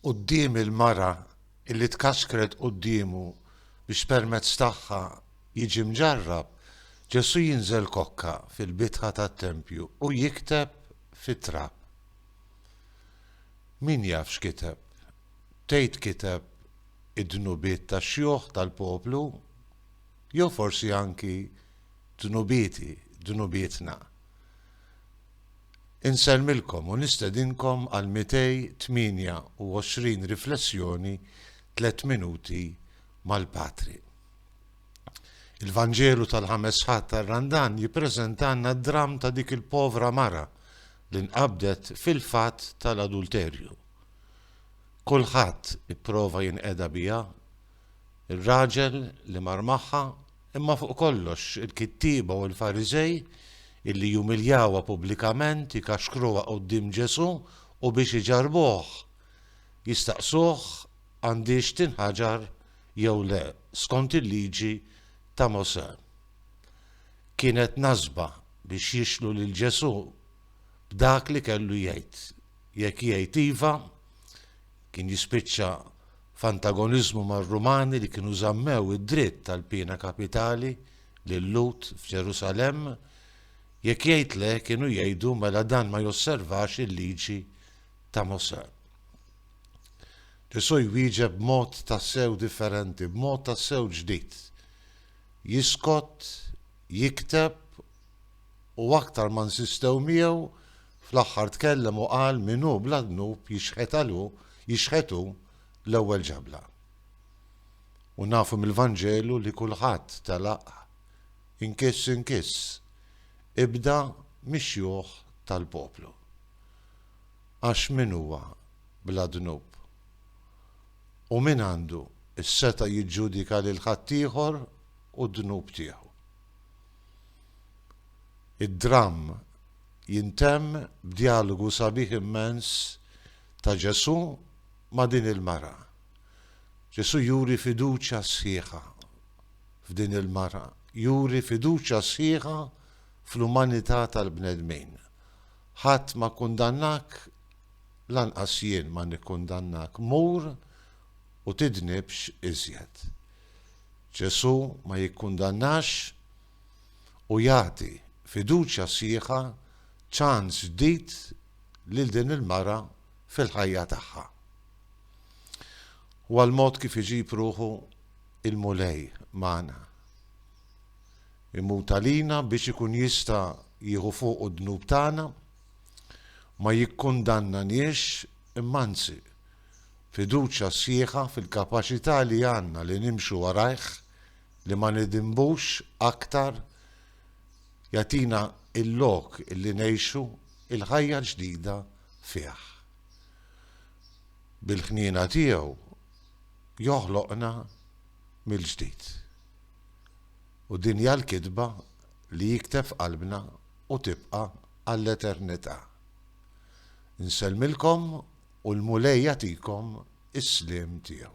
quddiem il-mara li tkaxkret quddiemu biex permezz tagħha jiġi mġarrab, Ġesù jinżel kokka fil-bitħa tat-tempju u jikteb fit-trab. Min jaf x'kiteb? Tgħid kiteb id-dnubiet tax-xjuħ tal-poplu jew forsi anki dnubieti, dnubietna. Insellmilkom u nistedinkom għal 228 riflessjoni Tliet Minuti mal-Patri. Il-Vanġelu tal-Ħames Ħadd tar-Randan jippreżentalna d-dramm ta' dik il-povra mara li nqabdet fil-fatt tal-adulterju. Kulħadd ipprova jinqeda biha, ir-raġel li mar magħha, imma fuq kollox il-kittieba u l-Fariżej illi jumiljawha pubblikament, ikaxkruha quddiem Ġesù u biex iġarrbuh, jistaqsuh għandhiex tinħaġar jew le skont il-Liġi ta' Mosè. Kienet nasba biex jixlu lil Ġesù b'dak li kellu jgħid. Jekk jgħid iva, kien jispiċċa f'antagoniżmu mar-Rumani li kienu żammew id-dritt tal-piena kapitali lil-Lhud f'Ġerusalemm, jekk jgħid le, kienu jgħidu mela dan ma josservax il-Liġi ta' Mosè. Ġesù jwieġeb b'mod tassew differenti, b'mod tassew ġdid. Jiskot, jikteb u aktar ma nsistew miegħu Fl-aħħar tkellem u qal min hu bla dnub jixhed għal hu, jixhed hu l-ewwel ġabla. U nafu mill-Vanġelu li kulħadd telaq inkiss inkiss, ibda mix-xjuħ tal-poplu. Għax min huwa bla dnub? U min għandu s-setgħa jiġġudika lil ħaddieħor u d-dnub tiegħu? Id-dramm jintemm b'djalogu sabiħ immens ta' Ġesù ma' din il-mara. Ġesù juri fiduċja sħiħa f'din il-mara, juri fiduċja sħiħa fl-umanità tal-bnedmin. Ħadd ma kkundannak, lanqas jien ma nikkundannak, mur u tidnibx iżjed. Ġesù ma jikkundannax u jagħti fiduċja sħiħa ċans ġdid lil din il-mara fil-ħajja tagħha. Huwa l-mod kif iġib ruħu l-Mulej magħna. Imut għalina biex ikun jista' jieħu fuqu d-dnub tagħna, ma jikkundannaniex imma anzi fiduċja sħiħa fil-kapaċità li għandna li nimxu warajh li ma nidinbux aktar jagħtina l-lok li ngħixu l-ħajja ġdida fih. Bil-ħniena tiegħu joħloqna mill-ġdid. U din hija l-kitba li jikteb f'qalbna u tibqa' għall-eternità. Insellmilkom u l-Mulej jagħtikom is-sliem tiegħu.